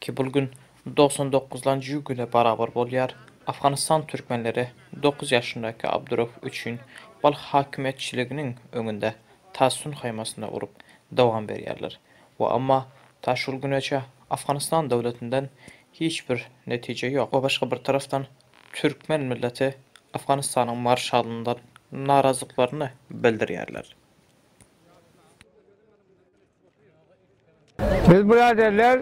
Ki bul gün dogsan dokuz lanjy ýubileý barabar bolýar. Afganystan türkmenleri dokuz ýaşyndaky Abdurouf üçin Balh hakimiýetçiliginiň öňünde tassyn haýmasyny urup dowam berýärler we emma ta şul güneçe Afganystan döwletinden hiç bir netije ýok we başga bir tarapdan türkmen milleti Afganystanyň marşalyndan narazyklarny bildirýärler. Biz biraderler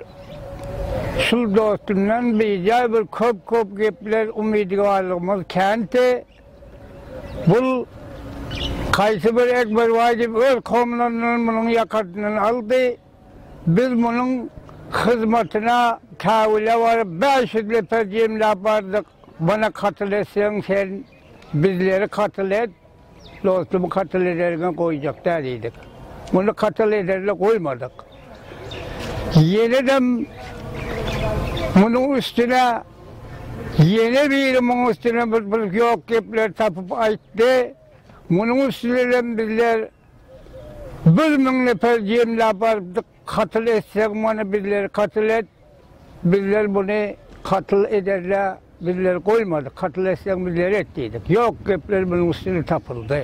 şul dostumdan bijaý bir köp-köp gepler umydygallygymyz känti. Bul kaýsy bir Ekberbaý diýip öz komlaryndan munuň ýakasyndan aldy. Biz munuň hyzmatyna käwüle baryp bäş ýüz lepez jemläp bardyk. Mana katyl etseň sen bizleri katyl et dostum katyl ederiňe goýjak däl diýdik. Muny katyl ederli goýmadyk. Ýenedem munuň üstüne ýene biri munuň üstüne bir bir ýok gepleri tapyp aýtdy. Munuň üstüne hem bizler bir müň neper jemläp barypdyk. Katyl etseň muny bizleri katyl et, bizler muny katyl ederle bizleri goýmadyk, katyl etseň bizleri et diýdik. Ýok gepler munuň üstüne tapyldy.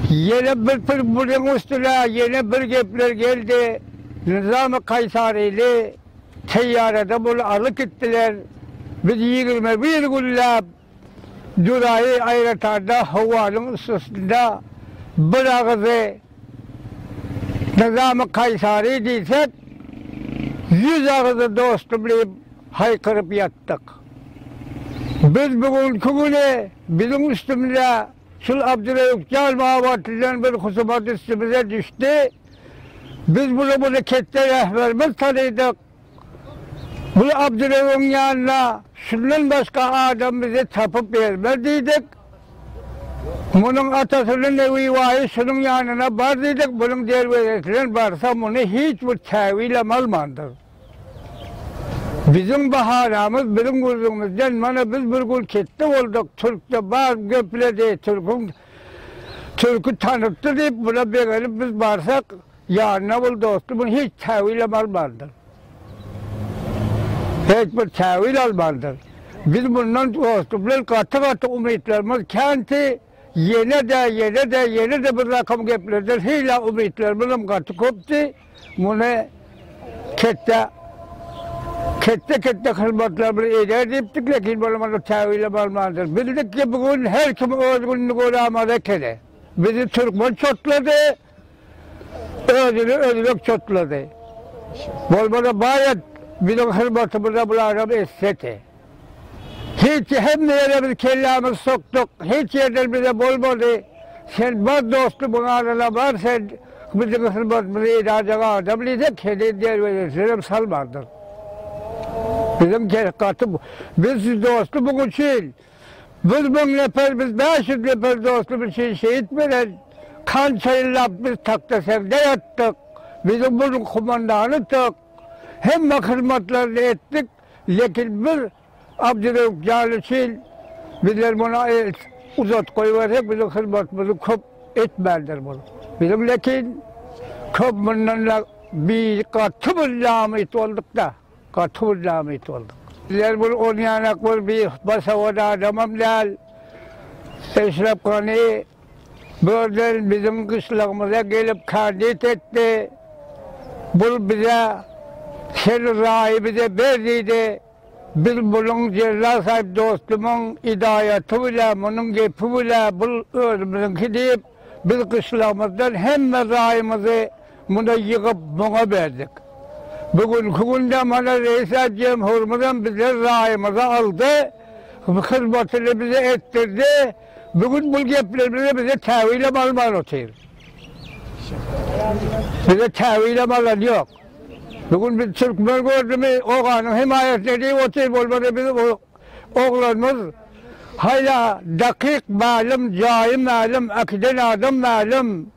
Ýene bir pir munuň üstüne ýene bir gepler geldi, Nyzamy Kaýsaryny teýýarada muny alyp gitdiler, biz ýigrimi bir günläp Julaý aýratanda howanyň üstesinde bir agyzy Nyzamy Kaýsary diýsek, ýüz agyzy dostum diýip haýkyryp ýatdyk. Biz bu günki güni biziň üstümize şul Abdyreýup jan babatyndan bir husumat üstümize düşdi. Biz bula muny ketde rähberimiz tanydyk. Biz Abdyrewiň ýanyna şundan başga adam bizi tapyp bermez diýdik. Munuň atasynyň Newibaýy şunuň ýanyna bar diýdik, munuň derwezesinden barsa muny hiç bir käbilam almandyr. Biziň bahanamyz biziň gürrüňimizden mana biz bir gün ketde bolduk, türkde bar gepledi, türküň türki tanypdy diýip buna begenip biz barsak, Ýanyna ol dosty muny hiç täwilem almandyr. Hiç bir täwil almandyr. Biz mundan dosty bilen gaty-gaty umytlarymyz känti, ýene-de, ýene-de, ýene-de bir rakam geplerden hila umytlarymyzam gaty köpdi. Muny ketde, ketde-ketde hyzmatlarymyzy eder diýipdik, lekin ol muny täwilem almandyr. Bildik ki, bu gün her kim öz gününi görämada ekeni. Bizi türkmen çotlady. Özüni özbek çotlady. Bolmasa baýat biziň hyzmatymyza bularam etsedi. Hiç hemme ýere biz kellämizi sokduk, hiç ýerden bize bolmady. Sen bar dostum ýanyna bar sen biziň hyzmatymyzy edajak adam diýsek heniz derwezesinem salmandyr. Biziň gaty biz dostum üçin Biz müň neper, biz bäş ýüz neper dostumyz üçin şehit beren, kança ýyllap biz takta segde ýatdyk, biziň munuň kumandanyduk, hemme hyzmatlaryny etdik, lekin bir Abdyrewüp jan üçin bizler muna el uzat goýbersek biziň hyzmatymyzy köp etmändir bul. Biziň lekin köp mundan-da bi gaty bir namyt bolduk-da. Gaty bir namyt boldyk. Bizler bir on ýanak bir basawat adamam däl. Eşrep Gani birden biziň gyşlagymyza gelip kandit etdi. Bul bize Sen raýy bize ber diýdi. Biz munuň Jella Saýyp dostumyň idaýaty bilen, munuň gepi bilen bul özümiziňki diýip, biz gyşlagymyzdan hemme raýymyzy Muny ýygyp muňa berdik. Bu günki günde mana Reýisat Jemhurymyzam bize raýymyzy aldy, hyzmatyny bize etdirdi. Bu gün bu geplerimizi bize täwilem alman otyr. Bize täwilem alan ýok. Bu gün biz türkmen gördümi, oganyň hemaýatyna diýip otyr, bolmasa biz bu oglanymyz haýla dakyk mälim, jaýy mälim, äkiden adam mälim.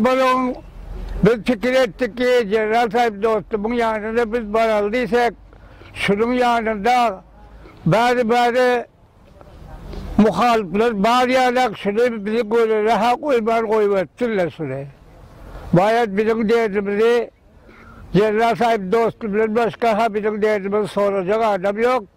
Balagyň Biz pikir etdik ki, Jeneral Saýyp dostumyň ýanyna biz baraly diýsek, şunuň ýanynda bäri-bäri muhalyplar bar ýaly-ak, şuny bizi görere-ha goýman goýberipdirler şuny. Baýat biziň derdimizi Jeneral Saýyp dosty bilen başga-ha biziň derdimizi sorajak adam ýok.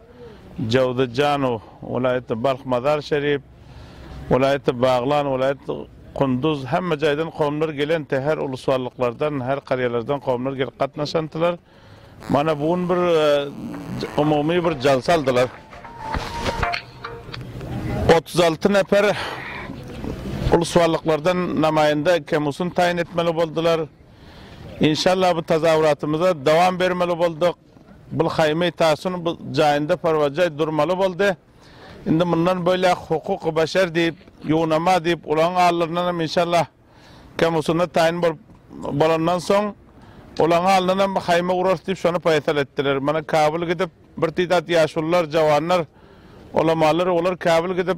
Jowzajanow, welaýatda Balh Mazar Şerif, welaýatda Baglan, welaýatda Kunduz, hemme jaýdan kowumlar gelenti, her ulusballyklardan, her karýalardan kowumlar gelip gatnaşantylar. Mana bu gün bir umumy bir jalsa aldylar. Otuz alty neper ulusballyklardan namaýanda Kemusun taýyn etmeli boldylar. Inşallah bu tazawuratymyza dowam bermeli bolduk. Bul haýmy Tasun jaýynda porwajaý durmaly boldy. Indi mundan boýlak hukuky başar diýip, ýuwnama diýip ulagyň alnyndan hem inşallah kemusunna taýyn bolup bolandan soň ulagyň alnyndan hem haýmy urarys diýip şony paýsal etdiler. Mana Kabul gidip bir tiz at ýaşulylar, jawanlar, ulamalary olar Kabul gidip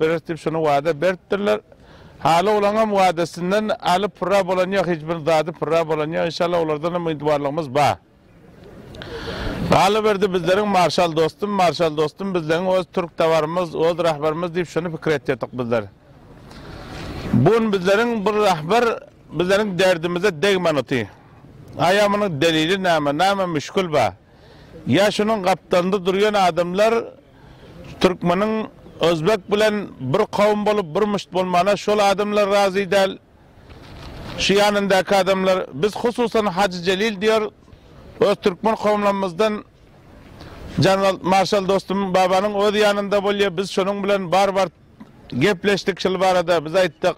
Beres diýip şony wada beripdirler. Haly olaňam wadasyndan alyp pyrra bolan ýok, hiç bir zady pyrra bolan ýok. Inşallah olardan umydwarlygymyz bar. Galyberdi bizleriň marşal dostum, marşal dostum bizleň öz türk tabarymyz, öz rahbarymyz diýip şony pikir etýärdik bizler. Bu gün bizleriň bir rahbar bizleriň derdimize degmän oty. Aýa munuň delili näme, näme müşkül bar? Ýa şunuň gapdalynda durýan adamlar Türkmeniň Özbek bilen bir kowum bolup bir müşt bolmana şol adamlar razy däl. Şu ýanyndaky adamlar, biz hususan Hajy Jelil diýer, öz türkmen kowumlarymyzdan Janwald marşal dostum Babanyň öz ýanynda bolýar, biz şonuň bilen bar bar gepleşdik şul barada, biz aýtdyk,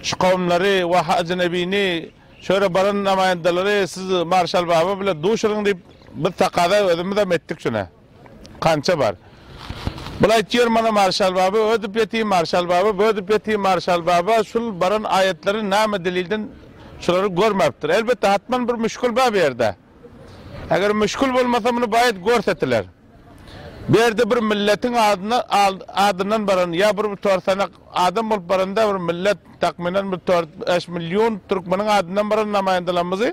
şu kowumlary we Hajy Nebini şöýle baran namaýandalary siz marşal baba bilen duşuryň diýip biz takaza özümizem etdik şuna. Kança bar? Bul aýtýar mana Marşal baba ödüp ýeti Marşal baba bödüp ýeti Marşal baba şul baran aýatlary name delilden şulary görmapdir elbetde hatman bir müşkül bar bu ýerde eger müşkül bolmasa muny baýat görsetiler bu ýerde bir milletiň adyna adyndan baran ýa bir tor sanak adam bolup baranda bir millet takmynan bir tor bäş million türkmeniň adyndan baran namaýandalarymyzy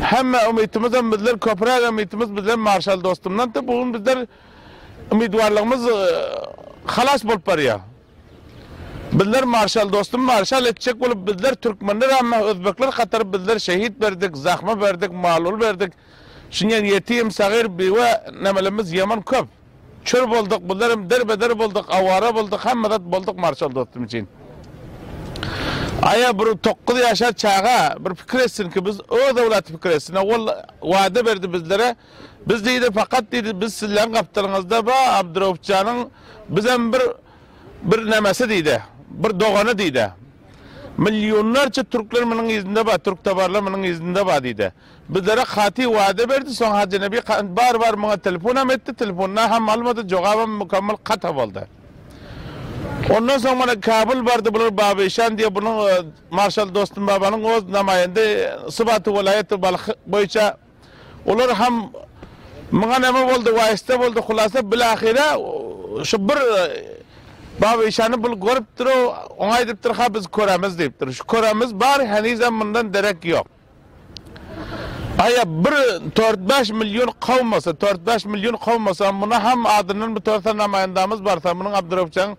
Hemme umytymyzam bizler köpüräk umytymyz bizler marşal dostumdandy. Bu gün bizler umytwarlygymyz halas bolup barýa. Bizler marşal dostum marşal etjek bolup bizler türkmenler ämmä özbekler hatary bizler şehit berdik, zahma berdik, mal-mul berdik. Şunyň ýetim, sagyr, biwe nemelemmiz ýaman köp. Çür bolduk bizler hem derbe der bolduk awara bolduk hemme zat bolduk marşal dostum üçin. Aýa bir tokuz ýaşar çaga bir pikir etsin ki biz öz owlaty pikir etsin owal wada berdi bizlere biz diýdi fakat diýdi biz sizleň gapdalyňyzda ba Abduraupjanyň bizem bir bir nemesi diýdi bir dogany diýdi. Milyonlarça türkler miniň yzynda ba türktabarlar miniň yzynda ba diýdi. Bizlere katy wada berdi, soň Hajy Nebi Kant bar bar muňa telefonam etdi, telefonda ham almady, jogabam mukammal kata boldy. Ondan soň mana Kabul bardy bular Baba Işan diýe bunuň Marşal Dostum Babanyň oz namaýende sybaty welaýaty Balh boýuça olar ham muňa name boldy waýysta boldy hulasa bilahyra şu bir Baba Işany bul görüpdir-ow oňa aýdypdyr ha biz köremiz diýipdir şu köremiz bar henizem mundan derek ýok. Aýa bir tört-bäş million kowmasa, tört-bäş million kowmasa, muny ham adyndan bitorsa namaýandamyz barsa, munyň Abdyrewjaň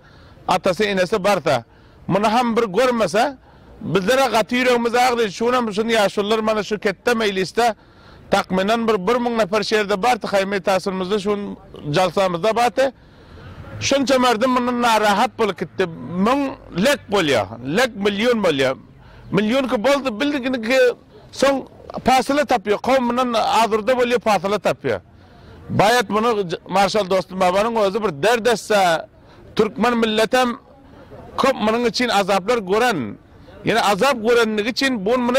atasy, enesi barsa, muny ham bir görmese, bizler-ä gaty ýüregimiz agry, şunam şun ýaşulylar mana şu ketde meýlisde takmynan bir bir müň neper şerde barty, haýmy täsinimizde şu gün jalsamyzda barty, şunça merdim mundan narahat bolup gitdi, müň lek bolýa, lek million bolýa. Millionki boldy bildiginiki soň pasyla tapýar kowmyndan azurda bolýar pasyla tapýar baýat muny marşal dostum babanyň özi bir dert etse türkmen milletem köp munyň üçin azaplar gören ýene azap görendigi üçin bu gün muny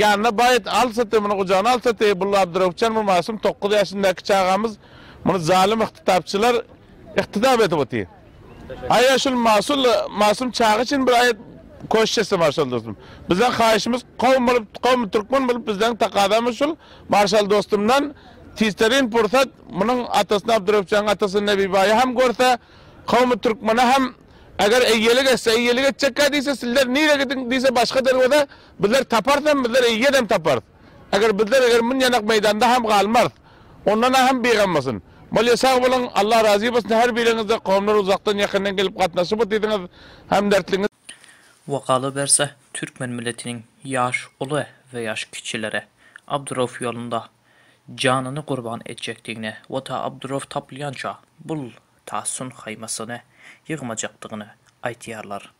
ýanyna baýat alsaty muny gujagyna alsaty bul abduröwüpjan bu masum togkuz ýaşyndaki çagamyz muny zalym yhtytapçylar Ykdydap edip otyr. Aýa şul Masum Masum çaga üçin bir aýat koşt etse Marşal dostum. Bizden haýyşymyz kowum bolup kowum türkmen bolup bizden takazamyz şul Marşal dostumdan tizterin pursat munuň atasyny Abdurepjanyň atasyny Nebibaýy hem görse kowum türkmene hem eger eýelik etse eýelik etjekkä diýse sizler nire gidiň diýse başga derweze bizler taparys hem bizler eýedem taparys. Eger bizler eger mün ýanak meýdanda hem galmarys ondan a hem bigam bolsun. Bolýa sag boluň Allah razy bolsun her biriňizde komlar uzakdan ýakyndan gelip gatnaşyp otysyňyz hemdertliňiz. We galyberse türkmen milletiniň ýaş uly we ýaş kiçileri Abdurow ýolunda janyny gurban etjekdigini we ta Abdurow tapylýança bul ta sun haýmasyny ýygmajakdygyny aýtýarlar.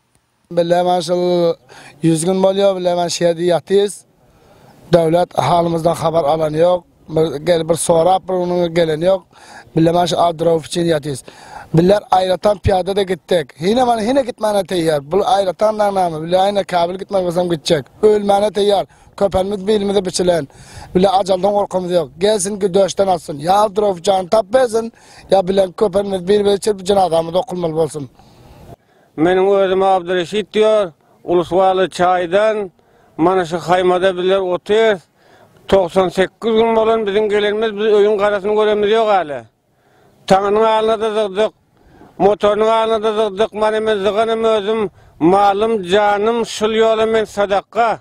Bile men şul ýüz gün bolýar, bile men şu ýerde ýatyrys. Döwlet halymyzdan habar alan ýok. Bir gelip bir sorap bir munuň gelen ýok. Bile men şu adyrow üçin ýatyrys. Biller aýratyn pyýada-da gitdik. Hine men hine gitmäne teýýar. Bul aýratyn daň näme? Bile hine käbir gitmek bolsam gitjek. Ölmäne teýýar. Köpelimiz bilimize biçilen. Bile ajaldan gorkymyz ýok. Gelsin güdöşden atsyn. Ýa adyrow jany tap bersin, ýa bilen köpelimiz bir-biri çirip jenazamyz okulmaly bolsun. Meniň özüm Abdyreşit diýýär. Ulus-Waly çaýdan mana şu haýmada bizler otyrys. Togsan sekiz gün bolan biziň gelenimiz, biz öýüň garasyny görenimiz ýok hälä. Taňynyň alyna-da zygdyk, motorynyň alyna-da zygdyk. Mana men zyganym özüm, malym, janym şul ýola men sadaka.